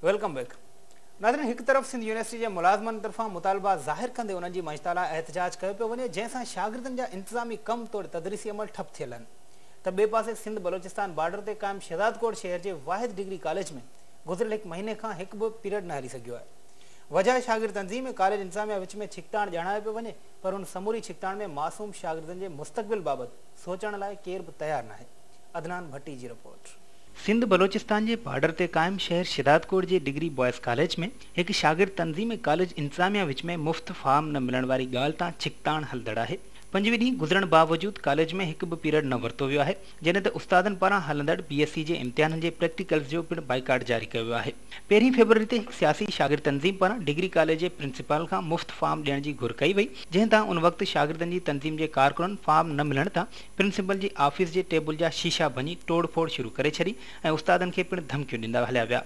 Welcome back ناظرين هڪ طرف سنڌ يونيورسٽي جي ملازمن طرفان مطالبا ظاهر ڪندي انهن جي مڃتا لاء احتجاج ڪيو پيو وڃي جنهن سان شاگردن جا انتظامي ڪم توڙي تدريسي عمل ٺپ ٿيل آهن ته ٻئي پاسي سنڌ بلوچستان بارڊر تي قائم شهزادڪوٽ شهر جي واحد ڊگري ڪاليج ۾ گذريل هڪ مهيني کان هڪ به پيريڊ نه هلي سگهيو آهي وجهه شاگرد تنظيم ۽ ڪاليج انتظاميا وچ ۾ ڇڪتاڻ ڄاڻايو پيو وڃي پر ان سموري ڇڪتاڻ ۾ معصوم شاگردن جي مستقبل بابت سوچڻ لاء ڪير به تيار ناهي. عدنان ڀٽي جي رپورٽ. سنڌ بلوچستان جي بارڊر تي قائم شهر شهدادڪوٽ جي ڊگري بوائز ڪاليج ۾ هڪ شاگرد تنظيم ۽ ڪاليج انتظاميا وچ ۾ مفت فارم نه ملڻ واري ڳالهه تان ڇڪتاڻ هلندڙ آهي پنجوي ڏينهن گذرڻ باوجود ڪاليج ۾ هڪ به پيريڊ نه ورتو ويو آهي جڏهن ته استادن پاران هلندڙ بي ايس سي جي امتحانن جي پريڪٽيڪلز جو پڻ بائيڪاٽ جاري ڪيو ويو آهي. پهرين فيبروري تي هڪ سياسي شاگرد تنظيم پاران ڊگري ڪاليج جي پرنسپال کان مفت فارم ڏيڻ جي گهر ڪئي وئي، جنهن تان ان وقت شاگردن جي تنظيم جي ڪارڪنن فارم نه ملڻ تان پرنسپال جي آفيس جي ٽيبل جا شيشا ڀڃي ٽوڙ ڦوڙ شروع ڪري ڇڏي ۽ استادن کي پڻ ڌمڪيون ڏيندا هليا ويا.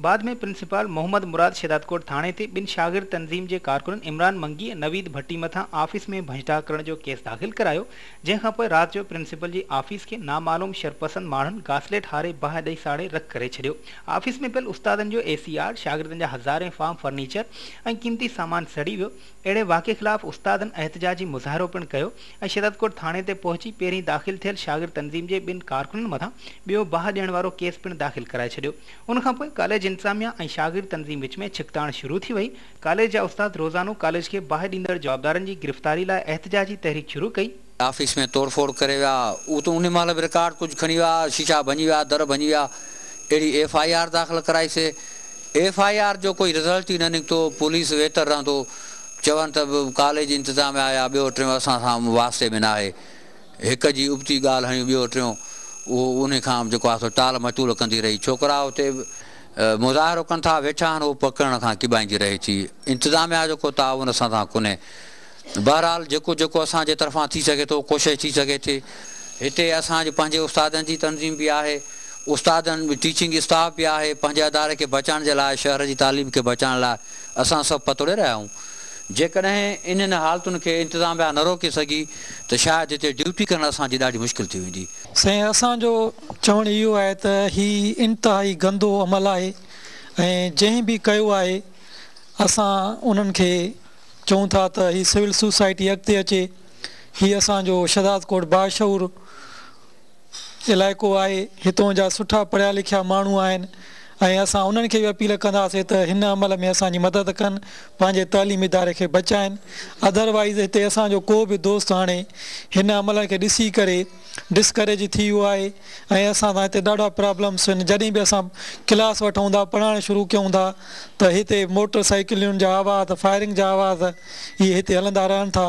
بعد ۾ پرنسپال محمد مراد شهدادڪوٽ ٿاڻي تي ٻن شاگرد تنظيم جي ڪارڪنن عمران منگي ۽ نويد ڀٽي مٿان آفيس ۾ ڀڃٽاڪ ڪرڻ جو ڪيس داخل ڪرايو، جنهن کان پوء رات جو پرنسپال جي آفيس کي نامعلوم شرپسند ماڻهن گاسليٽ هاري باهه ڏئي ساڙي رک ڪري ڇڏيو. آفيس ۾ پيل استادن جو اي سي آر، شاگردن جا هزارين فارم فرنيچر ۽ قيمتي سامان سڙي ويو، اهڙي واقعي خلاف استادن احتجاجي مظاهرو پڻ ڪيو ۽ شهدادڪوٽ ٿاڻي تي پهچي پهرين داخل ٿيل شاگرد تنظيم جي ٻن ڪارڪنن مٿان ٻيو باهه ڏيڻ وارو ڪيس پڻ داخل ڪرائي ڇڏيو ان کانپوء ڪاليج انتظاميه ۽ شاگرد تنظيم وچ ۾ ڇڪتاڻ شروع ٿي وئي ڪاليج جا استاد روزانو ڪاليج کي باهه ڏيندڙ جوابدارن جي گرفتاري لاء احتجاجي تحريڪ شروع ڪئي آفيس ۾ توڙ ڦوڙ ڪري ويا، اهو ته ان مهل به رڪارڊ ڪجهه کڻي ويا، شيشا ڀڃي ويا، در ڀڃي ويا، اهڙي ايف آء آر داخل ڪرائي سي، ايف آء آر جو ڪوئي رزلٽ ئي نه نڪتو، پوليس ويتر رهندو، چون ته ڪاليج انتظاميا يا ٻيو ٽيون اسان سان واسطي ۾ ناهي، هڪ جي ابتي ڳالهه هڻيون ٻيو ٽيون اهو ان کان جيڪو آهي سو ٽال مٽول ڪندي رهي، ڇوڪرا اتي به مظاهرو ڪن ٿا ويٺا آهن اهو پڪڙڻ کان ڪٻائيندي رهي ٿي، انتظاميا جو ڪو تعاون اسان سان ڪونهي، بهرحال جيڪو جيڪو اسان جي طرفان ٿي سگهي ٿو ڪوشش ٿي سگهي ٿي هتي اسان جي پنهنجي استادن جي تنظيم به آهي استادن ٽيچنگ اسٽاف به آهي پنهنجي اداري کي بچائڻ جي لاء شهر جي تعليم کي بچائڻ لاء اسان سڀ پتوڙي رهيا آهيون جيڪڏهن انهن حالتن کي انتظاميا نه روڪي سگهي ته شايد هتي ڊيوٽي ڪرڻ اسان جي ڏاڍي مشڪل ٿي ويندي. سائين اسان جو چوڻ اهو آهي ته هي انتهائي گندو عمل آهي ۽ جنهن به ڪيو آهي اسان انهن کي چئون ٿا ته هي سول سوسائٽي اڳتي اچي، هي اسان جو شھدادڪوٽ باشعور علائقو آهي، هتون جا سٺا پڙهيا لکيا ماڻهو آهن ۽ اسان انهن کي به اپيل ڪنداسين ته هن عمل ۾ اسان جي مدد ڪن پنهنجي تعليمي اداري کي بچائين اڌر وائيز هتي اسان جو ڪو به دوست هاڻي هن عملن کي ڏسي ڪري ڊسڪريج ٿي ويو آهي ۽ اسان سان هتي ڏاڍا پرابلمس آهن جڏهن به اسان ڪلاس وٺون ٿا پڙهائڻ شروع ڪيون ٿا ته هتي موٽر سائيڪلن جا آواز فائرنگ جا آواز اهي هتي هلندا رهن ٿا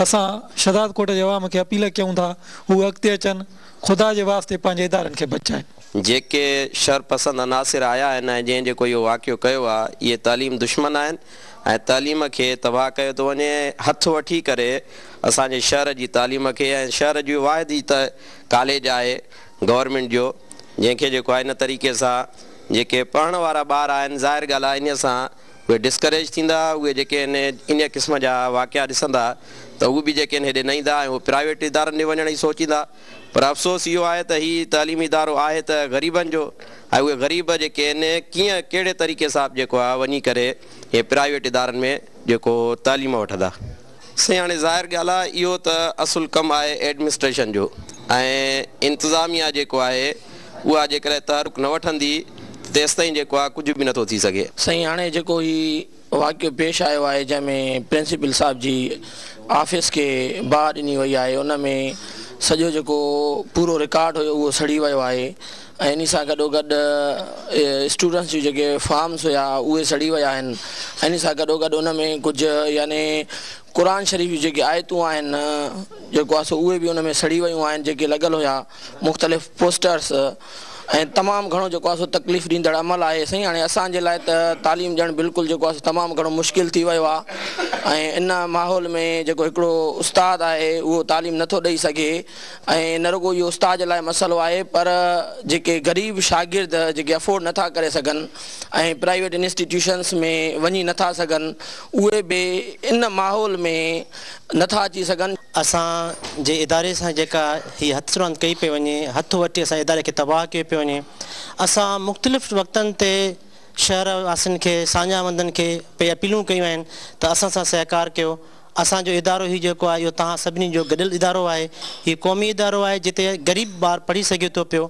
اسان شهدادڪوٽ جي عوام کي اپيل ڪيون ٿا هو اڳتي اچن خدا جي واسطي پنهنجي ادارن کي بچائين. جيڪي شر پسند عناصر آيا آهن ۽ جنهن جيڪو اهو واقعو ڪيو آهي اهي تعليم دشمن آهن ۽ تعليم کي تباهه ڪيو ٿو وڃي ۽ هٿ وٺي ڪري اسان جي شهر جي تعليم کي ۽ شهر جي واحد هي ته ڪاليج آهي گورنمينٽ جو جنهن کي جيڪو آهي ان طريقي سان جيڪي پڙهڻ وارا ٻار آهن ظاهر ڳالهه آهي انهي سان اهي ڊسڪريج ٿيندا اهي جيڪي انهي انهي قسم جا واقعا ڏسندا ته اهي به جيڪي ان هيڏي نه ايندا ۽ اهي پرائيويٽ ادارن ڏي وڃڻ جي سوچيندا. پر افسوس اهو آهي ته هي تعليمي ادارو آهي ته غريبن جو ۽ اهي غريب جيڪي آهن ڪيئن ڪهڙي طريقي سان جيڪو آهي وڃي ڪري اهي پرائيويٽ ادارن ۾ جيڪو تعليم وٺندا. سائين هاڻي ظاهر ڳالهه آهي اهو ته اصل ڪم آهي ايڊمنسٽريشن جو ۽ انتظاميا جيڪو آهي اها جيڪڏهن تحرڪ نه وٺندي ته تيستائين جيڪو آهي ڪجهه به نٿو ٿي سگهي. سائين هاڻي جيڪو هي. واقعو پيش آيو آهي جنهن ۾ پرنسپل صاحب جي آفيس کي باهه ڏني وئي آهي ان ۾ سڄو جيڪو پورو رڪارڊ هيو اهو سڙي ويو آهي ۽ انهي سان گڏو گڏ اسٽوڊنٽس جون جيڪي فارمس هيا اهي سڙي ويا آهن انهي سان گڏو گڏ ان ۾ ڪجهه يعني قرآن شريف جون جيڪي آيتون آهن جيڪو آهي سو اهي به ان ۾ سڙي ويون آهن جيڪي لڳل هيا مختلف پوسٽرس ۽ تمام گهڻو جيڪو آهي سو تڪليف ڏيندڙ عمل آهي سائين هاڻي اسان جي لاء ته تعليم ڏيڻ بلڪل جيڪو آهي سو تمام گهڻو مشڪل ٿي ويو آهي ۽ ان ماحول ۾ جيڪو هڪڙو استاد آهي اهو تعليم نه ٿو ڏئي سگهي ۽ نه رڳو اهو استاد جي لاء مسئلو آهي پر جيڪي غريب شاگرد جيڪي افورڊ نه ٿا ڪري سگهن ۽ پرائيويٽ انسٽيٽيوشنس ۾ وڃي نه ٿا سگهن اهي به ان ماحول ۾ نه ٿا اچي سگهن. اسان جي اداري سان جيڪا هي هٿ راند ڪئي پئي وڃي، هٿ وٺي اسان جي اداري کي تباهه ڪيو پيو وڃي. اسان مختلف وقتن تي شهر واسين کي، ساڃاهه وندن کي پئي اپيلون ڪيون آهن ته اسان سان سهڪار ڪيو. اسان جو ادارو هي جيڪو آهي اهو توهان سڀني جو گڏيل ادارو آهي. هي قومي ادارو آهي جتي غريب ٻار پڙهي سگهي ٿو پيو.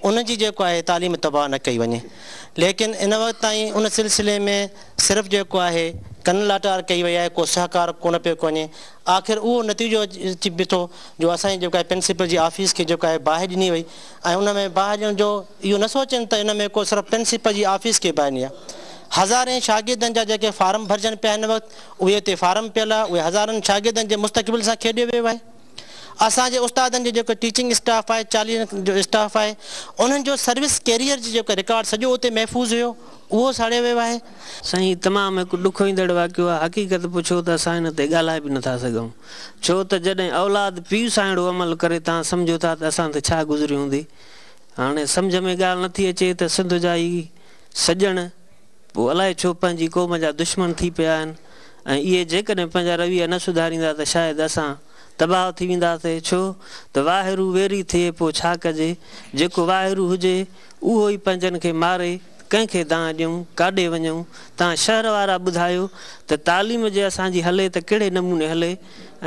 ان جي جيڪو آهي تعليم تباهه نه ڪئي وڃي. ليڪن ان وقت تائين ان سلسلي ۾ صرف جيڪو آهي ڪن لاٽار ڪئي وئي آهي ڪو سهڪار ڪونه پيو ڪو وڃي آخر اهو نتيجو اچي بيٺو جو اسان جي جيڪو آهي پرنسپل جي آفيس کي جيڪو آهي باهه ڏني وئي ۽ ان ۾ باهه ڏيڻ جو اهو نه سوچين ته ان ۾ ڪو صرف پرنسپل جي آفيس کي باهه ڏني آهي هزارين شاگردن جا جيڪي فارم ڀرجن پيا هن وقت اهي اتي فارم پيل آهي اهي هزارن شاگردن جي مستقبل سان کيڏيو ويو آهي. اسان جي استادن جو جيڪو ٽيچنگ اسٽاف آهي چاليهن جو اسٽاف آهي انهن جو سروس ڪيريئر جي جيڪو رڪارڊ سڄو اتي محفوظ هيو اهو ساڙيو ويو آهي. سائين تمام هڪ ڏک ايندڙ واقعو آهي حقيقت پڇو ته اسان ان تي ڳالهائي به نٿا سگهون ڇو ته جڏهن اولاد پيء سان اهڙو عمل ڪري تان سمجهو ٿا ته اسان تي ڇا گذري هوندي هاڻي سمجهه ۾ ڳالهه نٿي اچي ته سنڌ جا هي سڄڻ پوء الائي ڇو پنهنجي قوم جا دشمن ٿي پيا آهن ۽ اهي جيڪڏهن پنهنجا رويا نه سڌاريندا ته شايد اسان تباهه ٿي وينداسين ڇو ته واهيرو ويري ٿئي پوء ڇا ڪجي جيڪو واهيرو هجي اهو ئي پنهنجن کي ماري ڪنهن کي دانهن ڏيون ڪاڏي وڃون تان شهر وارا ٻڌايو ته تعليم جي اسان جي هلي ته ڪهڙي نموني هلي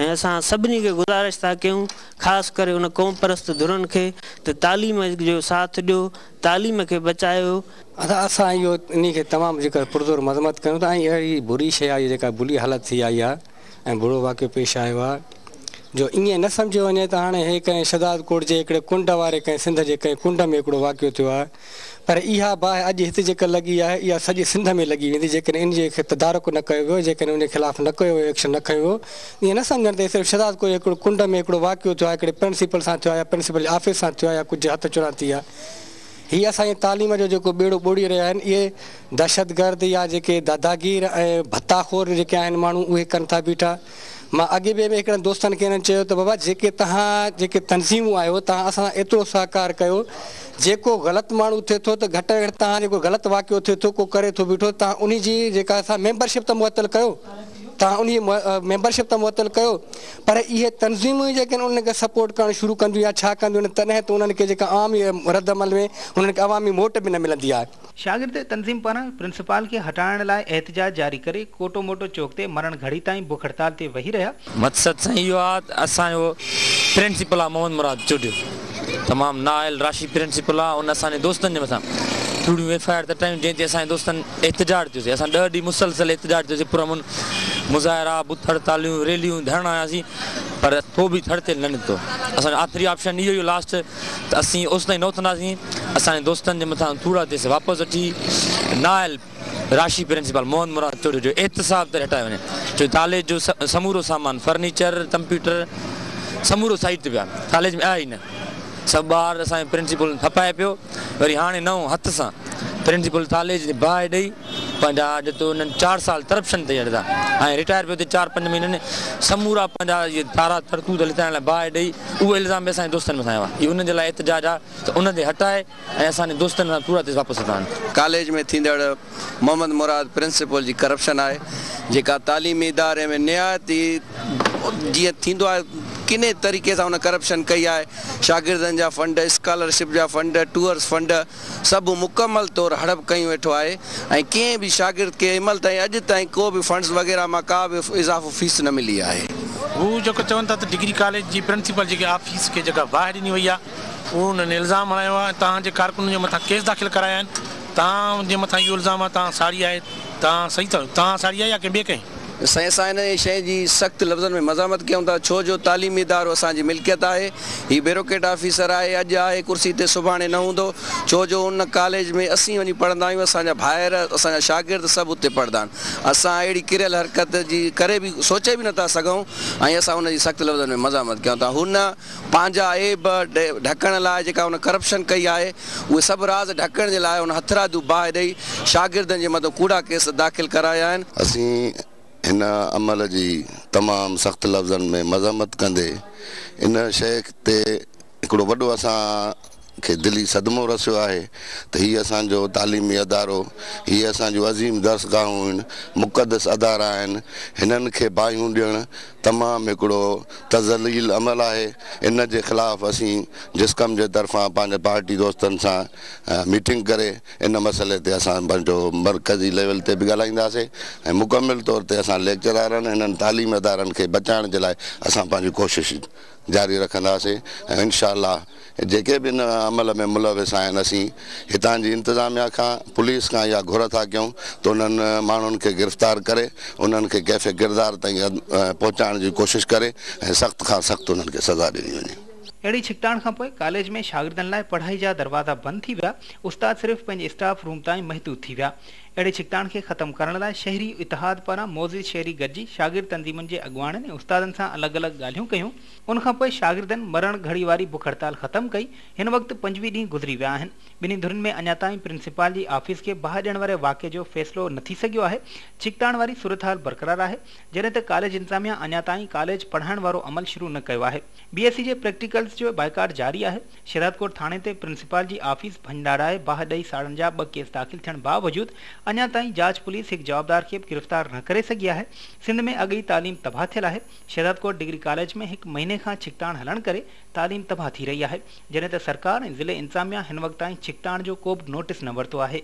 ۽ اسان سڀني کي گذارش ٿا ڪيون خاص ڪري ان قومپرست ڌرن کي ته تعليم جو ساٿ ڏيو تعليم کي بچايو. اسان اهو انهي کي تمام ذڪر پرزور مذمت ڪيون ٿا ۽ اهڙي بري شيء آهي جيڪا بلي حالت ٿي آئي آهي ۽ برو واقعو پيش آيو آهي جو ائين نه سمجهيو وڃي ته هاڻي هي ڪنهن شهداد ڪوٽ جي هڪڙي ڪنڊ واري ڪنهن سنڌ جي ڪنهن ڪنڊ ۾ هڪڙو واقعو ٿيو آهي پر اها باهه اڄ هت جيڪا لڳي آهي اها سڄي سنڌ ۾ لڳي ويندي جيڪڏهن انهي کي تدارڪ نه ڪيو ويو جيڪڏهن انهي خلاف نه ڪو اهو ايڪشن نه کنيو ويو ائين نه سمجهڻ ته هي صرف شهزاد ڪوهي هڪڙو ڪنڊ ۾ هڪڙو واقعو ٿيو آهي هڪڙي پرنسپل سان ٿيو آهي يا پرنسپل جي آفيس سان ٿيو آهي يا ڪجهه هٿ چران ٿي آهي هي اسان جي تعليم جو جيڪو ٻيڙو ٻوڙي رهيا آهن اهي دهشتگرد يا جيڪي داداگير ۽ ڀتا خور جيڪي آهن ماڻهو اهي ڪن ٿا بيٺا مان اڳي به هڪڙن دوستن کي هنن چيو ته بابا جيڪي توهان جيڪي تنظيمون آهيو توهان اسان سان ايترو سهڪار ڪيو جيڪو غلط ماڻهو ٿئي ٿو ته گهٽ ۾ گهٽ توهان جيڪو غلط واقعو ٿئي ٿو ڪو ڪري ٿو بيٺو توهان انهي جي جيڪا سا ميمبرشپ ته معطل ڪيو تان انهي ميمبرشپ ته معطل ڪيو پر اهي تنظيمون ئي جيڪڏهن انهن کي سپورٽ ڪرڻ شروع ڪنديون يا ڇا ڪنديون تڏهن ته انهن کي جيڪا عام رد عمل ۾ انهن کي عوامي ووٽ به نه ملندي آهي. شاگرد تنظيم پاران پرنسپال کي هٽائڻ لاء احتجاج جاري ڪري ڪوٽو موٽو چوڪ تي مرڻ گهڙي تائين بک هڙتال تي ويهي رهيا. مقصد سائين اهو آهي ته اسان جو پرنسپل آهي محمد مراد چوٽيو. تمام نااهل راشي پرنسپل آ ان اسان جي دوستن جي مٿان ٿوريون ايف آء آر ته ٽايون جنهن تي اسان جي دوستن احتجاج ٿيو سي اسان ڏهه ڏينهن مسلسل احتجاج ٿيو سي پرامن مظاهرا بت هڙتاليون ريليون ڌرڻا هيا سي پر ڪو به ٿڙ تيل نه نڪتو اسان جو آخري آپشن اهو هيو لاسٽ ته اسين اوستائين نه اٿنداسين اسان جي دوستن جي مٿان ٿورا تيس واپس اچي نااهل راشي پرنسپال محمد مراد چوڙيو جو احتساب تي هٽايو وڃي ڇو جو ڪاليج جو سمورو سامان فرنيچر ڪمپيوٽر سمورو سائيٽ تي پيا ڪاليج ۾ آيا ئي نه سڀ ٻار اسان جي پرنسپل ڦپائي پيو وري هاڻي نئون هٿ سان پرنسپل ڪاليج تي باهه ڏئي پنهنجا اڄ تو انهن چار سال ڪرپشن تي اڙدا ۽ رٽائر پيو ٿي چار پنج مهينن سمورا پنهنجا اهي تارا ترتوت لتايل باهه ڏئي اهو الزام به اسان جي دوستن مٿان هنيو آهي اهي انهن جي لاء احتجاج آهي ته انهن تي هٽائي ۽ اسان جي دوستن سان پورا تيس واپس اچان. ڪاليج ۾ ٿيندڙ محمد مراد پرنسپل جي ڪرپشن آهي جيڪا تعليمي اداري ۾ نهايت ئي جيئن ٿيندو آهي ڪني طريقي سان ان ڪرپشن ڪئي آهي شاگردن جا فنڊ اسڪالر شپ جا فنڊ ٽوئرس فنڊ سڀ مڪمل طور هڙپ ڪيون ويٺو آهي ۽ ڪنهن به شاگرد کي امل تائين اڄ تائين ڪو به فنڊس وغيره مان ڪا به اضافو فيس نه ملي آهي. هو جيڪو چون ٿا ته ڊگري ڪاليج جي پرنسپل جيڪي آفيس کي جيڪا باهه ڏني وئي آهي انهن الزام هڻايو آهي ۽ توهان جي ڪارڪنن جي مٿان ڪيس داخل ڪرايا آهن، توهان جي مٿان اهو الزام آهي ته توهان ساڙي آهي، توهان صحيح ٿا چئو، توهان ساڙي آهي يا ڪنهن ٻئي ڪئي؟ سائين اسان هن شئي جي سخت لفظن ۾ مزاحمت ڪيون ٿا ڇو جو تعليمي ادارو اسان جي ملڪيت آهي هي بيروڪريٽ آفيسر آهي اڄ آهي ڪرسي تي سڀاڻي نه هوندو ڇو جو ان ڪاليج ۾ اسين وڃي پڙهندا آهيون اسان جا ڀائر اسان جا شاگرد سڀ اتي پڙهندا آهن اسان اهڙي ڪريل حرڪت جي ڪري به سوچي به نه ٿا سگهون ۽ اسان ان جي سخت لفظن ۾ مزاحمت ڪيون ٿا هن پنهنجا عيب ڍڪڻ لاء جيڪا هن ڪرپشن ڪئي آهي، اهي سڀ راز ڍڪڻ جي لاء هن هٿرادو باهه ڏئي شاگردن جي مٿان ڪوڙا ڪيس داخل ڪرايا آهن. اسين هن عمل جي تمام سخت لفظن ۾ مذمت ڪندي ان شيخ تي هڪڙو وڏو اسان کي دلي صدمو رسيو آهي ته هي اسان جو تعليمي ادارو، هي اسان جون عظيم درسگاهون هن مقدس ادارا آهن، هنن کي باهيون ڏيڻ تمام هڪڙو ته ذليل عمل آهي، ان جي خلاف اسين جسقم جي طرفان پنهنجي پارٽي دوستن سان ميٽنگ ڪري ان مسئلي تي اسان پنهنجو مرڪزي ليول تي به ڳالهائينداسين ۽ مڪمل طور تي اسان ليڪچرارن هنن تعليمي ادارن کي بچائڻ جي لاء اسان پنهنجي ڪوشش جاري رکنداسين ۽ انشاء الله جيڪي به ان عمل ۾ ملوث آهن اسين هتان جي انتظاميا کان پوليس کان اها گهر ٿا ڪيون ته انهن ماڻهن کي گرفتار ڪري انهن کي ڪيف ڪردار تائين پهچائڻ جي ڪوشش ڪري ۽ سخت کان سخت انهن کي سزا ڏني وڃي. اهڙي ڇڪتاڻ کان پوء ڪاليج ۾ شاگردن لاء پڙهائي جا دروازا بند ٿي ويا، استاد صرف پنهنجي اسٽاف روم تائين محدود ٿي ويا. اهڙي ڇڪتاڻ کي ختم ڪرڻ لاء شهري اتحاد پاران معزز شهري گڏجي شاگرد تنظيمن جي اڳواڻن ۽ استادن سان الڳ الڳ ڳالهيون ڪيون، ان کان پوء شاگردن مرڻ گهڙي واري بک هڙتال ختم ڪئي، هن وقت پنجويهه ڏينهن گذري ويا آهن، ٻنهي ڌرين ۾ اڃا تائين پرنسپال جي آفيس کي باهه ڏيڻ واري واقعي جو فيصلو نه ٿي سگهيو آهي، ڇڪتاڻ واري صورتحال برقرار آهي، جڏهن ته ڪاليج انتظاميا اڃا تائين ڪاليج پڙهائڻ وارو عمل شروع نه ڪيو آهي، بي ايس سي جي پريڪٽيڪلز جو بائيڪاٽ جاري آهي. شهدادڪوٽ ٿاڻي تي پرنسپال جي آفيس ڀڃڙائي باهه ڏئي ساڙڻ جا ٻه ڪيس داخل ٿيڻ باوجود اڃا تائين جاچ پوليس هڪ جوابدار کي به گرفتار نه ڪري سگهي آهي سنڌ ۾ اڳ ئي تعليم تباهه ٿيل آهي شهدادڪوٽ ڊگري ڪاليج ۾ هڪ مهيني کان ڇڪتاڻ هلڻ ڪري تعليم تباهه ٿي رهي آهي جڏهن ته سرڪار ۽ ضلعي انتظاميا هن وقت تائين ڇڪتاڻ جو ڪوبه نوٽس نه ورتو آهي.